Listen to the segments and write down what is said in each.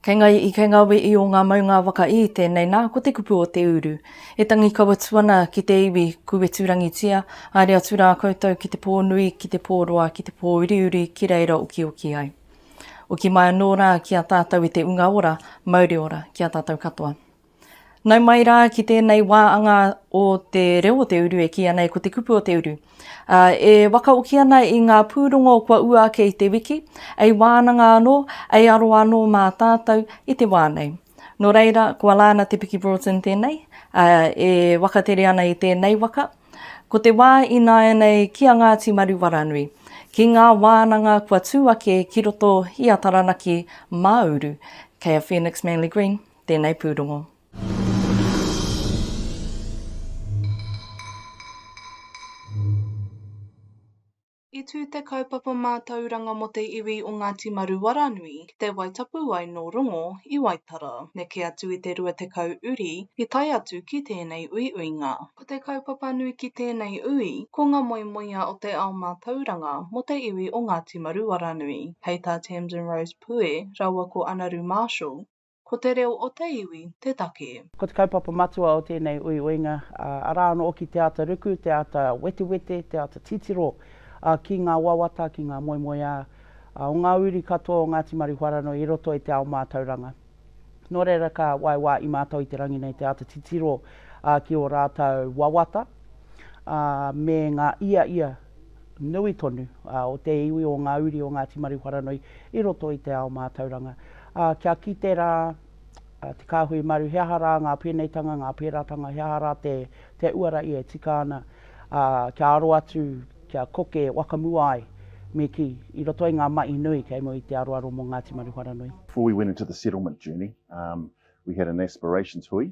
Kei ngai i kei nga we i o nga maunga waka i, tenei na ko te kupu o te uru. E tangi kawa tu ana ki te iwi ku weturangitia, haere atu ra koutou ki te po nui, ki te po roa, ki te po uriuri ki reira okioki ai. Oki mai ano ra ki a tatou e te unga ora, mauri ora ki a tatou katoa. Nau mai rā ki tēnei wā anga o te reo o te uru e kīia nei ko te kupu o te uru. E wakaoki ana i ngā pūrongo kua ua ake i te wiki, ei wānanga anō, ei aro anō mā tātou i te wā nei. Nō reira, ko Alana Te Piki Broughton tēnei, e wakatere ana i tēnei waka. Ko te wā ināianei ki a Ngāti Maruwaranui, ki ngā wānanga kua tū ake ki roto i a Taranaki mā uru, kei a Phoenix Manley Green Tēnei pūrongo. I tū te kaupapa mātauranga mō te iwi o Ngāti Maruaranui ki te wai tapu ai nō Rongo i Waitara. Neke atu i te 20 uri i tae atu ki tēnei uiuinga. Ko te kaupapa nui ki tēnei ui, ko ngā moemoeā o te ao mātauranga mō te iwi o Ngāti Maruaranui. Hei tā Tamsin Rose Pue rāua ko Anaru Marshall, Ko te reo o te iwi te take. Ko te kaupapa matua o tēnei uiuinga, arā anō hoki te āta ruku, te āta wetewete, te āta titiro ki ngā wawata, ki ngā moemoeā o ngā uri katoa o Ngāti Marihwaranui i roto i te ao mātauranga. Nō reira ka waewae i mātou i te rangi nei te āta titiro ki ō rātou wawata me ngā ia ia nui tonu o te iwi, o ngā uri o Ngāti Maruwharanui i roto i te ao mātauranga. Ā, kia kite rā te kāhui maru he aha rā ngā pēneitanga, ngā pērātanga, he aha rā te uara ia e tika ana, ā, kia aro atu, kia koke wakamua ai, me kī, i roto i ngā mahi nui kei mua i te aroaro mō Ngāti Maruwharanui. Before we went into the settlement journey, we had an aspirations hui,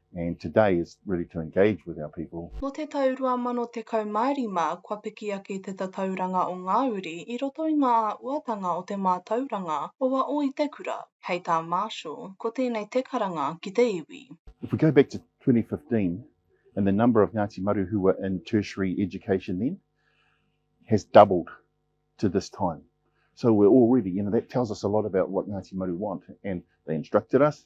and today is really to engage with our people. Nō te tau 2015 kua piki ake te tatauranga o ngā uri i roto i ngā āhuatanga o te mātauranga o a o i te kura, hei tā Marshall, ko tēnei te karanga ki te iwi. If we go back to 2015 and the number of Ngāti Maru who were in tertiary education then has doubled to this time. So we're already, you know, that tells us a lot about what Ngāti Maru want and they instructed us,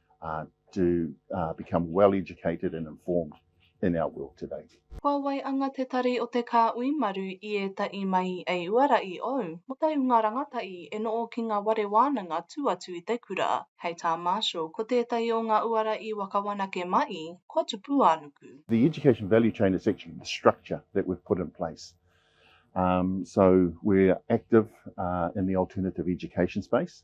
uh, to uh, become well educated and informed in our world today. Kua wai anga te tari o te kāui maru i ētahi mahi ei uara i ou, mo te hunga rangatahi e noo ki nga ware wānanga tu atu i te kura. Hei tā Marshall, ko tētahi o nga uara i wakawanake mai, kua Tupuānuku. The education value chain is actually the structure that we've put in place. Um, so we're active uh, in the alternative education space.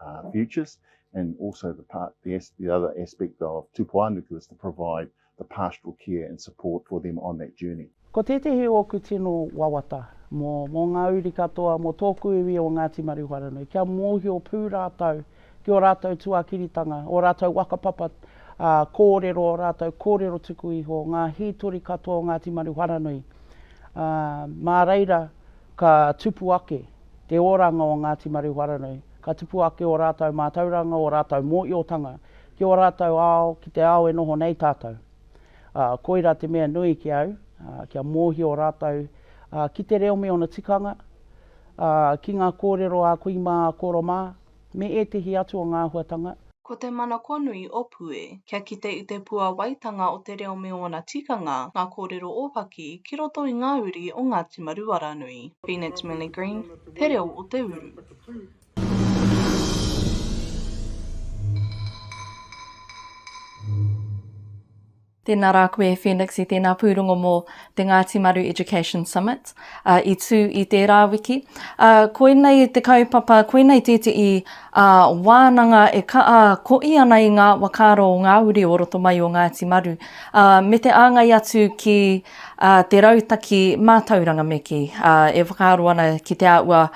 uh, futures, and also the part the, the other aspect of tupuanuku is to provide the pastoral care and support for them on that journey. Ko tētehi o ōku tino wawata mō, mō ngā uri katoa, mō tōku iwi o Ngāti Maruhoranui, kia mōhio pū rātou ki ō rātou tuakiritanga, ō rātou wakapapa ā, kōrero, ō rātou kōrero tuku iho, ngā hītori katoa o Ngāti Maruhoranui. Ā, mā reira ka tupu ake te oranga o Ngāti Marewharanui. Ka tupu ake ō rātou mātauranga, ō rātou mōiotanga ki ō rātou ao, ki te ao e noho nei tātou. Ā, koirā te mea nui ki au, ā, kia mōhio rātou, ā, ki te reo me ōna tikanga, ā, ki ngā kōrero a kui mā, a koro mā. Me ētehi atu o ngā āhuatanga. Ko te mana kua nui o Pue. Kia kite i te puāwaitanga o te reo me ōna tikanga, ngā kōrero ōpaki, ki roto i ngā uri o Ngāti Maruaranui. Phoenix Millie Green, Te Reo o te Uru. Tēnā rā koe Phoenix i tēnā pūrongo mō te Ngāti Maru Education Summit i tū i tērā wiki. Koinei te kaupapa, koinei tētehi wānanga e kaʻa koʻi ana i ngā wakaaro o ngā uri o roto mai o Ngāti Maru me te āngai atu ki te rautaki mātauranga me kī, e whakaaro ana ki te āhua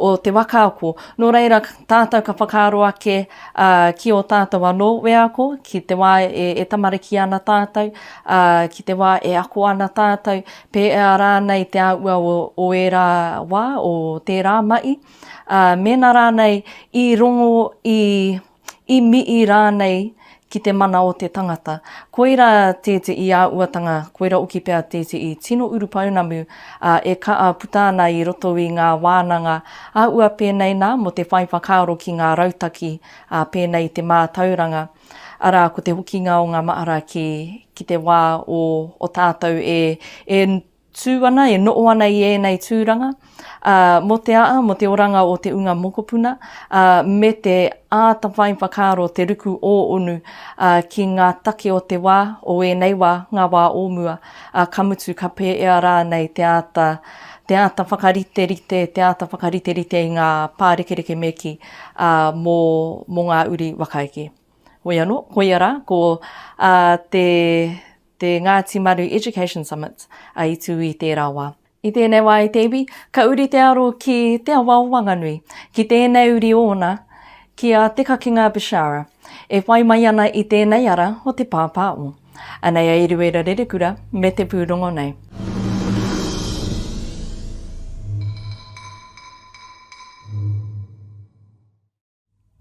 o te waka ako. Nō reira, tātou ka whakaaro ake Ā, ki ō tātou anō wheako, ki te wā e, e tamariki ana tātou, ā, ki te wā e ako ana tātou, pēea rānei te āhua o, o ērā wā, o tērā mahi, ā, mēnā rānei i rongo, i, i mihi rānei ki te mana o te tangata. Koira tētehi āhuatanga, koira hoki pea tētehi tino urupounamu, ā, e kaa puta ana i roto i ngā wānanga a ua pēnei nā mō te whai whakaaro ki ngā rautaki, ā, pēnei i te mātauranga, arā, ko te hokinga o ngā mahara ki, ki te wā o, o tātou e, e tū ana, e noʻo ana i ēnei tūranga, ā, mō te aa, mō te oranga o te unga mokopuna, ā, me te āta whai whakaaro te ruku ō-onu, ā, ki ngā take o te wā, o ēnei wā, ngā wā ō mua, ā, ka mutu ka pēea rānei te āta, te āta whakariterite, te āta whakariterite i ngā pārekereke me kī, ā, mō, mō ngā uri whakaeke. Hoi anō, koia rā, ko, ā, te, te Ngāti Maru Education Summit, ā, i tū i tērā wā. I tēnei wā i te iwi, ka uri te aro ki Te Awa o Wanganui, ki tēnei uri ōna, ki a Te Kakinga Bishara, e whai mai ana i tēnei ara o Te Pāpā o. Anei a Eruera Rerekura me te pūrongo nei.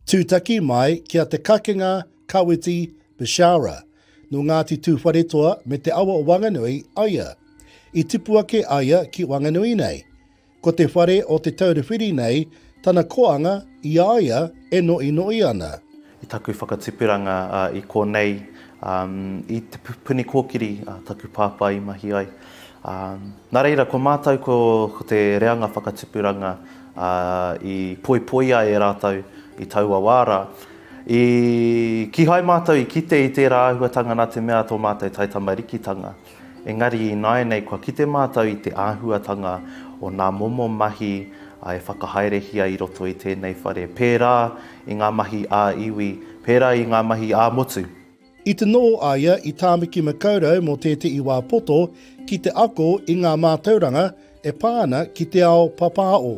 Tūtaki mai ki a Te Kakenga Kawiti Bishara, nō Ngāti Tūwharetoa me te awa o Wanganui aia. I tipu ake aia ki Wanganui nei. Ko te whare o Te Taura Whiri nei tana koanga i a ia e noʻinoʻi ana. I taku whakatupuranga i konei, i Te Puni Kōkiri taku pāpā i mahi ai. Nā reira, ko mātou ko te reanga whakatupuranga, Ā, i poipoia e rātou i taua wā rā. I kīhai mātou i kite i tērā āhuatanga nā te mea tō mātou taitamarikitanga. Engari ināianei kua kite mātou i te āhuatanga o ngā momo mahi e whakahaerehia i roto i tēnei whare, pērā i ngā mahi ā-iwi, pērā i ngā mahi ā-motu. I tonō a ia i Tāmiki Makaurau mō tētehi wā poto ki te ako i ngā mātauranga e pā ana ki te ao papāo.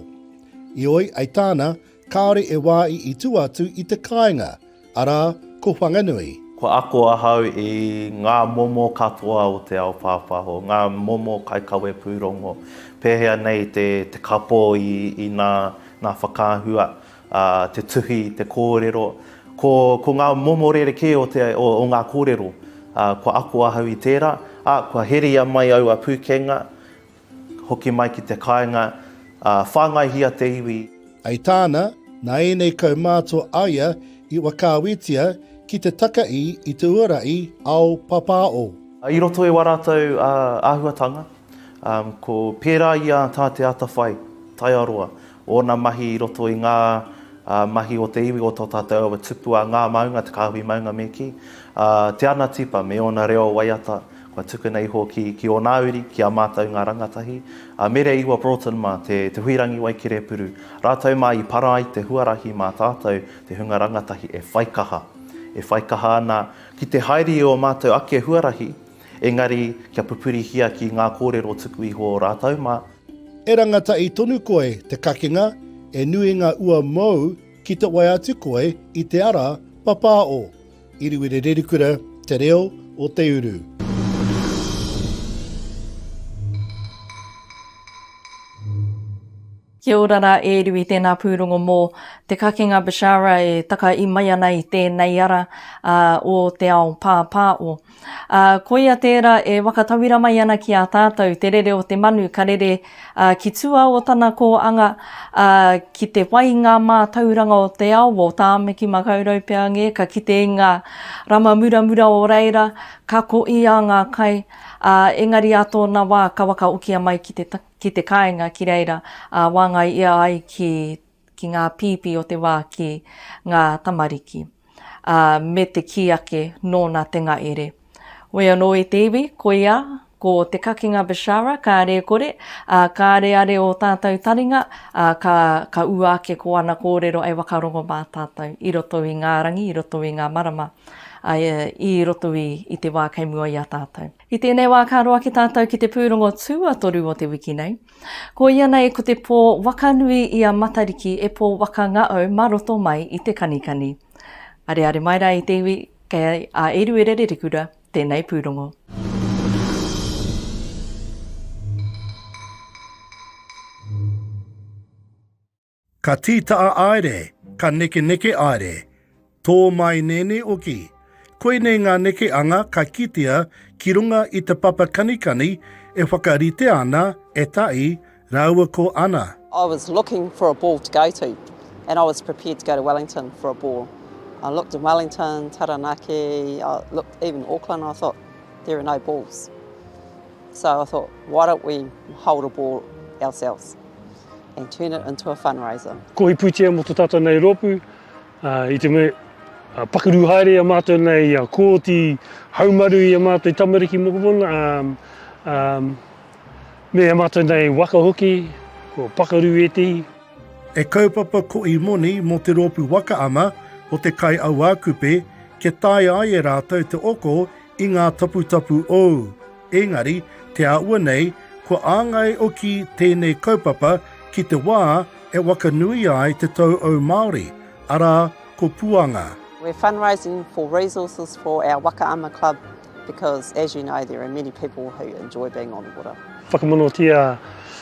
I oi ai tāna, kāore e wā i i tua atu i te kāinga, arā, ko Whanganui. Kua ako ahau i ngā momo katoa o te ao pāpāho, ngā momo kaikawe pūrongo, pēhea nei te kapō i nā whakaahua Ā, te tuhi, te kōrero, ko, ko ngā momo rerekē o, te, o, o ngā kōrero. Ā, kua ako ahau i tērā, ā, kua heria mai aua pūkenga, hoki mai ki te kāinga, ā, whāngaihia te iwi. I tāna, nā ēnei kaumātua a ia i whakaawetia ki te taka i i te uarahi ao papao. I roto i wā rātou āhuatanga, ā, ko, pērā i a Tā Te Atawhai, Taiaroa, Ōna mahi i roto i ngā mahi o te iwi o tō tātou awa tupu a Ngā Maunga, Te Kāhui Maunga me kī. A Te Ana Tipa me ōna reo waiata kua tukuna iho ki ki ōnā uri, ki a mātou ngā rangatahi, a Mere Iwa Broughton mā te te Huirangi Waikerepuru, rātou mā i para ai te huarahi mā tātou te hunga rangatahi e whaikaha, e whaikaha ana ki te haere i ō mātou ake huarahi, engari kia pupurihia ki ngā kōrero tuku iho o rātou mā. E rangatahi tonu koe te kakenga e nui nga ua mou ki te wae atu koe i te ara papā o. Iriwiri Rerikura Te Reo o Te Uru. Kia ora ra e Riwi tēnā pūrongo mō te kakenga Bishara e taka i mai ana i tēnei ara o te ao pāpā o. Ā, koia tērā e whakatauira mai ana ki a tātou te rere o te manu ka rere ki tua o tana kōanga, ā, ki te whai i ngā mātauranga o te ao, o Tāmaki Makaurau pea ngē, ka kite i ngā rama muramura o reira, ka ko i a ngā kai, ā, engari ā tōna wā ka wakaokia mai ki te, ki te kāinga ki reira, ā, wāngai ia ai ki ki ngā pīpī o te wā ki ngā tamariki, ā, me te kī ake nōna te ngahere. Whoi anō e te iwi, koia, ko te kakinga Bishara, kāre e kore, ā, kāre a re ō tātou taringa, ā, ka, ka ua ake ko ana kōrero e whakarongo mā tātou, i roto i ngā rangi, i roto i ngā marama, ā, i roto i, i te wā kei mua i a tātou. I tēnei wā ka roa ki tātou ki te pūrongo tuatoru o te wiki nei. Ko ia nei ko te pō waka nui i a Matariki e pō waka ngaau ma roto mai i te kanikani. Areare mai ra i te iwi kei a Eruerere Rekura tenei pūrongo. Ka tītaa aere, ka nekeneke aere, tō mai nēnē oki. Koinei ngā neke anga ka kitea ki runga i te papa kanikani e whakaritea ana e Taʻi rāua ko Ana. I was looking for a ball to go to and I was prepared to go to Wellington for a ball. I looked in Wellington, Taranaki, I looked even Auckland, I thought there are no balls. So I thought why don't we hold a ball ourselves. and turn it into a fundraiser. Ko Hiputia mo to tatou nei ropu, i te me pakaru haere a matou nei a kooti haumaru i a matou tamariki mokopuna, um, um, me a matou nei waka hoki, ko pakaru etihi. E kaupapa ko i moni mo te ropu waka ana o te kai auakupe kia taea ai e ratou te oko i nga taputapu ou. Engari, te āhua nei, kua āngai oki tēnei kaupapa ki te wā e wakanuia ai te tauau Māori, arā, ko Puanga. We're fundraising for resources for our Waka Ama Club because as you know there are many people who enjoy being on the water. Whakamanawatia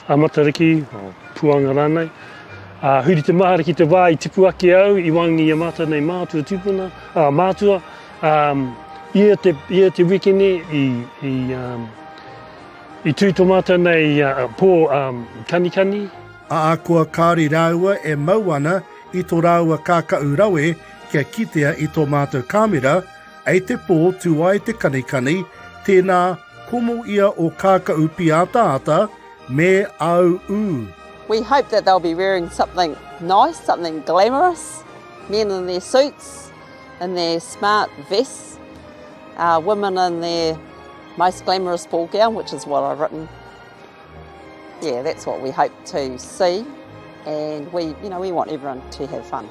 a Matariki, or Puanga rānei. Ā, huri te mahara ki te wā i tipu ake au i wāngi i a mātou nei mātua tūpuna, ā, mātua. Um, ia, te, ia te wiki ni i, i, um, i tū tō mātou nei uh, pō um, kanikani. Ākua kāri rāua e mau ana i tō rāua kākaʻu rawe kia kitea i tō mātou kāmera, ei te pō tū ai te kanikani, tēnā komo ia o kākaʻu pīataata me āu ū. We hope that they'll be wearing something nice, something glamorous, men in their suits, in their smart vests, uh, women in their most glamorous ball gown, which is what I've written. Yeah, that's what we hope to see, and we, you know, we want everyone to have fun.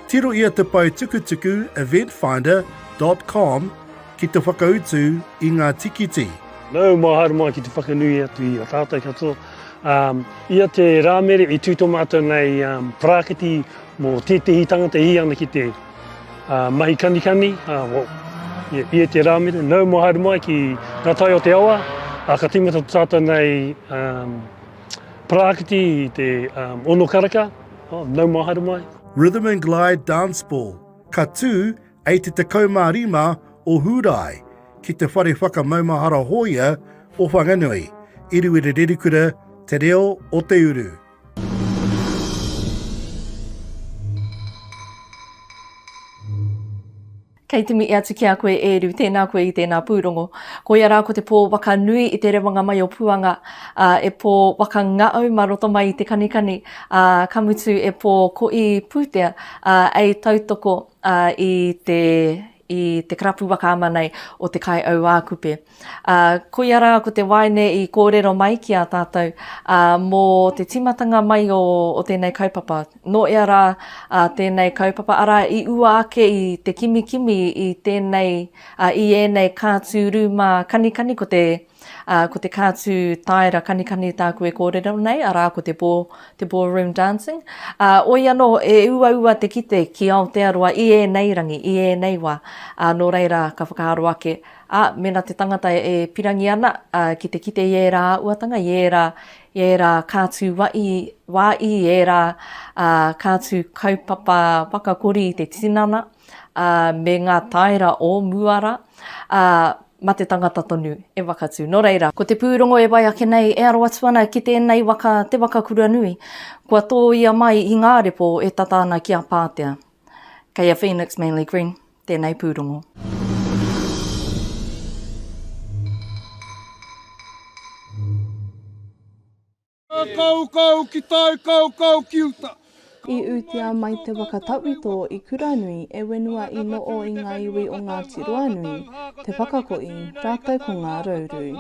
Tiro ia te pau tukutuku eventfinder.com ki te whakautu i ngā tikiti. No, mā haere mai ki te whakanui atu i a tātou katoa. Um, ia te rāmere i tū tō mātou nei um, prākiti Mō tētehi tangata i ana ki te mahi kanikani, i e te rāmere, nau mō haere mai ki ngā tai o te awa, ā, ka tīmata tō tātou nei paraakiti i te ono karaka, nau mō haere mai. Rhythm and Glide Dance Ball, ka tū ei te 15 o Hūrae ki te whare whakamaumahara hōia o Whanganui, i Ruerererikura, Te Reo o Te Uru. Kei te mihi atu ki a koe e Ru, tēnā koe i tēnā pūrongo. Koia rā ko te pō waka nui i te rewanga mai o Puanga, ā, e pō waka ngaau mā roto mai i te kanikani, ā, ka mutu e pō koʻī pūtea, ā, ei tautoko, ā, i te i te karapu waka ama nei o Te Kaiauākupe. Ā, koia rā ko te waeine i kōrero mai ki a tātou, ā, mō te tīmatanga mai o, o tēnei kaupapa. Nō ea rā ā tēnei kaupapa, arā, i ua ake i te kimikimi i tēnei, ā, i ēnei kātū rūmā kanikani ko te. Ā, ko te kātū tāera kanikani tāku e kōrero nei, arā, ko te ball, te ballroom dancing. Ā, oi anō, e uaua te kite ki Aotearoa i ēnei rangi, i ēnei wā. Ā, nō reira, ka whakaaro ake, ā, mēnā te tangata e pirangi ana, ā, ki te kite i ērā āhuatanga, i ērā, i ērā kātū wai, wā i, i ērā, ā, kātū kaupapa whakakori i te tinana, ā, me ngā tāera o mua rā, ā, ma te tangata tonu e wakatu. No reira. Ko te pūrongo e wai ake nei e aro atu ana ki tēnei waka te waka kuranui, kua tōia mai i ngā repo e tata ana ki a Pātea. Kei a Phoenix Manly Green tēnei pūrongo. Kaukau ki tai, kaukau ki uta. I utia mai te waka tauito i Kuranui e wenua i noo i nga iwi o Ngati Ruanui, Te Whakakoi, ratou ko nga Rauru.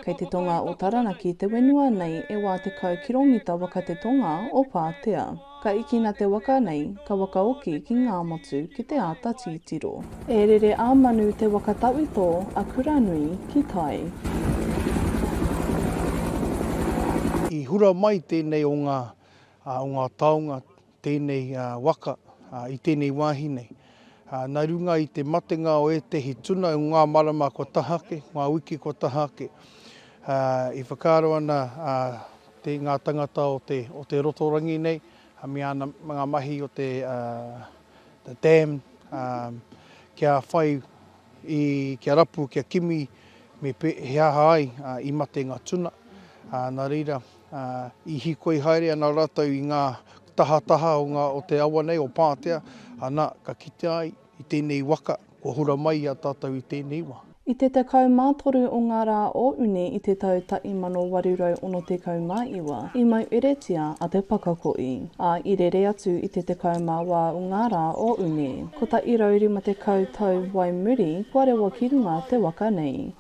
Kei te tonga o Taranaki te wenua nei e wa tekau kiromita waka te tonga o Patea. Ka ikina te waka nei, ka wakaoki ki ngā motu ki te āta tītiro. E rere a Manu te waka tawhito a Kuranui ki tai. I hura mai tēnei o ngā taonga, tēnei waka i tēnei wāhi nei. Nā runga i te matenga o ētehi tuna i ngā marama kua taha ake, ngā wiki kua taha ake, i whakaaro ana ngā tangata o te o te rotorangi nei me ana ngā mahi o te the dam kia whai i kia rapu kia kimi me he aha ai i mate ngā tuna nā reira ā, i hīkoi haere ana rātou i ngā tahataha o ngā, o te awa nei, o Pātea, ana, ka kitea ai, i tēnei waka, kua hora mai i a tātou i tēnei wā. I te 13 o ngā rā o Uni i te tau ta 1869, i maueretia a Te Pakakoʻi, ā, i rere atu i te 18 o ngā rā o Uni, 150 tau wai muri kua rewa ki runga te waka nei.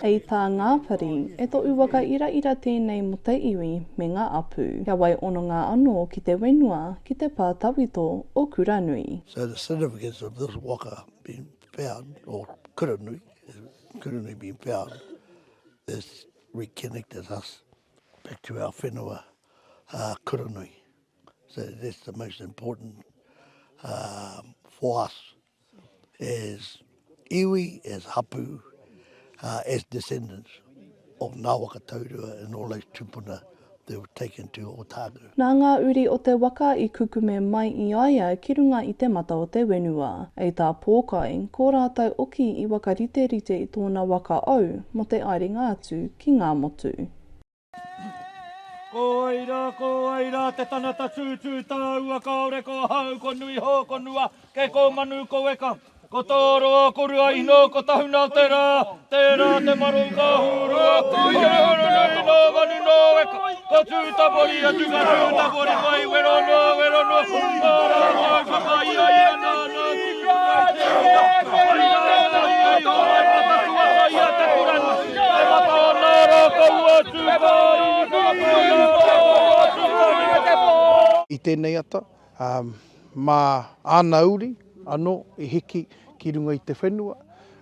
Hei tā Ngāpari, E toʻu waka iraira tēnei mo te iwi me ngā apu. Kia wai ononga anō ki te wenua, ki te pā tawito o Kuranui. So the significance of this waka being found or Kuranui, Kuranui being found has reconnected us back to our whenua Kuranui. So that's the most important for us as iwi, as hapu, uh, as descendants of Ngā Waka Taurua and all those tupuna that were taken to Otago. Nā ngā uri o te waka i kukume mai i a ia ki runga i te mata o te whenua. Hei tā Pōkai, ko rātou oki i wakariterite i tōna waka ou mō te aerenga atu ki Ngāmotu. Ko wai ra, ko wai ra te tanata tūtū tāua Kaore ko ahau, ko nui hō, ko nua ke ko manu ko weka Ko tō roa, ko rua ino, ko tahuna te rā Te rā te maro ka hūrua Huruhuru nui nō manu nō weka Ko tū tapori atu ka tū tapori mai Wero noa, wero noa Ko rā, ko whakaia ia nā, nā I tēnei ata, mā āna uri anō i hiki ki runga i te whenua,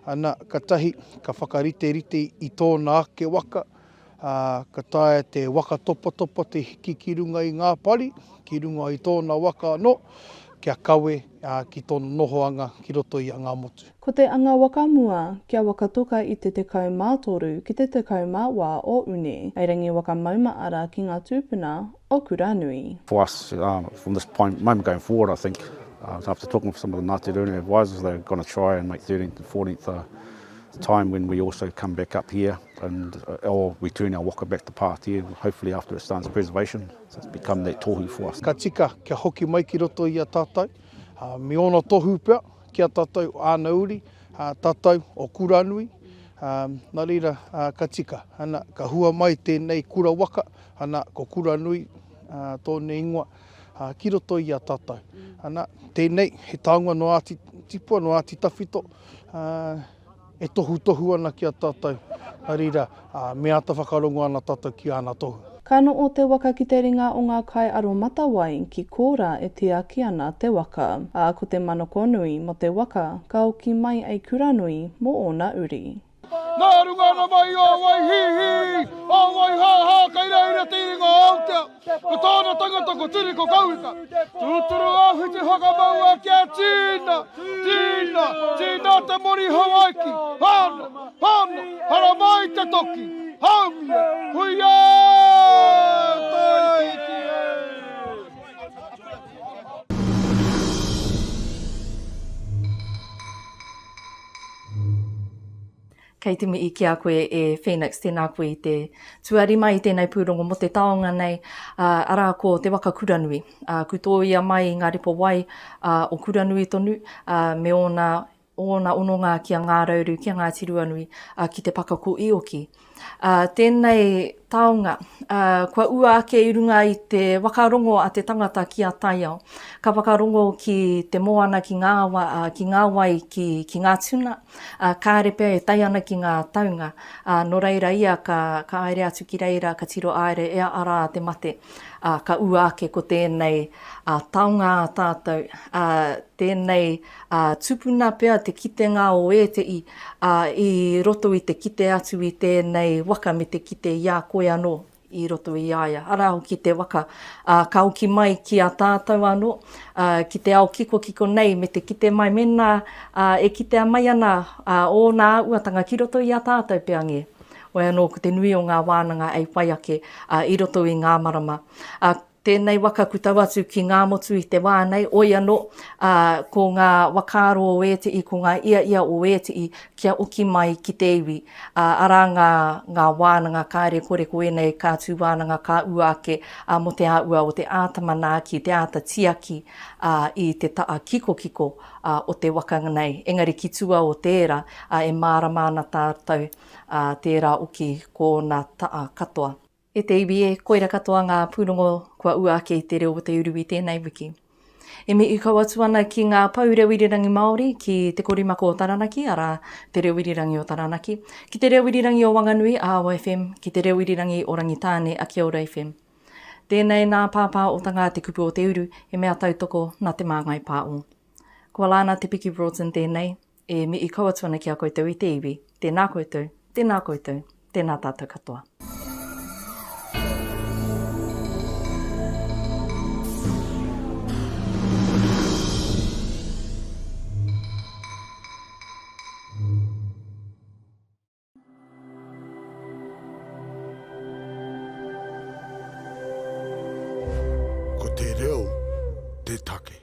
ana, katahi ka whakariterite i tōna ake waka, ā, ka taea te waka topatopa te hiki ki runga i ngā pari, ki runga i tōna waka anō, kia kawe ki tōna nohoanga ki roto i a Ngāmotu. Ko te anga waka mua, kia waka toka i te 13 ki te 14 o Uni, hei rangi waka mauma ara ki ngā tūpuna o Kuranui. For us, from this point, moment going forward, I think, after talking to some of the Ngāti Rūnui advisors, they're going to try and make 13th and 14th a time when we also come back up here and or we turn our waka back to Pātea, hopefully after it starts preservation, so it's become that tohu for us. Ka tika kia hoki mai ki roto i a tātou, me ōna tohu pea ki a tātou āna uri, tātou o Kuranui, nā reira ka tika, ana, ka hua mai tēnei kura waka, Ana, ko Kuranui tōna ingoa, ki roto i a tātou. Ana, tēnei, he taonga no Āti Tipua, no Āti Tawhito, e tohutohu ana ki a tātou, nā reira, me āta whakarongo ana tātou ki āna tohu. Ka noʻo te waka ki te ringa o ngā kai aromatawai, ki kōrā e tiaki ana te waka. Ā, ko te manakonui mō te waka, ka oki mai ei Kuranui mō ōna uri. Nā runga ana mahi ā wai hī hī, ā wai hā hā kei reira i te iringa o Aotea. Ko tōna tangata ko Turi ko Kauika. Tūturu āwhiti whakamaua kia tīna, tīna, tīna te moni Hawaiki. Hāna, hāna, haramā i te toki. Haumia, huiā! Tāiti e! Kei te mihi ki a koe e Phoenix, tēnā koe i te tuarima i tēnei pūrongo mō te taonga nei, arā ko Te Waka Kuranui. Ku tōia mai i ngā ripo wai o Kuranui tonu me ōna, ōna ononga ki a Ngārauru, ki a Ngāti Ruanui, ki te pakako i oki. Ā, tēnei taonga, ā, kua ua ake i runga i te whakarongo a te tangata ki a taiao. Ka whakarongo ki te moana, ki ngā awa, ā, ki ngā wai, ki, ki ngā tuna, ā, kāre pea e tae ana ki ngā taunga. Ā, nō reira ia ka, ka haere atu ki reira, ka tiro haere e a Ara a te mate. Ā, ka ua ake ko tēnei, ā, taonga ā tātou, ā, tēnei ā, tupuna pea te kitenga o ēteʻi, ā, i roto i te kite atu i tēnei waka me te kite i a koe anō i roto i a ia, arā hoki te waka, ā, ka hoki mai ki a tātou anō, ā, ki te ao kikokiko nei me te kite mai mēnā, ā, e kitea mai ana, ā, ōna āuatanga ki roto i a tātou pea ngē. Wai anō ko te nui o ngā wānanga ei whai ake, ā, i roto i ngā marama, ā, Tēnei waka ku tau atu ki Ngāmotu i te wā nei, oi anō, ā, ko ngā wakaaro o ētihi, ko ngā iaia o ētihi kia oki mai ki te iwi, ā, arā ngā, ngā wānanga kāre kore ko ēnei ka tū wānanga ka ua ake, ā, mō te āhua o te āta manaaki, te āta tiaki, ā, i te taha kikokiko, ā, o te waka nei. Engari ki tua o tērā, ā, e mārama ana tātou, ā, tērā oki ko ōna taha katoa. E te iwi e, koira katoa ngā pūrongo kua ua ake i te reo o te uru i tēnei wiki. E mihi kau atu ana ki ngā pou reo irirangi Māori ki Te Korimako o Taranaki, arā, Te Reo Irirangi o Taranaki, ki Te Reo Irirangi o Wanganui, Aawa FM, ki Te Reo Irirangi o Rangitāne, Akiaura FM. Tēnei nā Pāpā o Tangā te kupu o te uru, he mea tautoko nā Te Māngai Pāo. Ko Alana Te Piki Broughton tēnei. E mihi kau atu ana ki a koutou i te iwi. Tēnā koutou, tēnā koutou, tēnā tātou katoa. Ko te reo te take.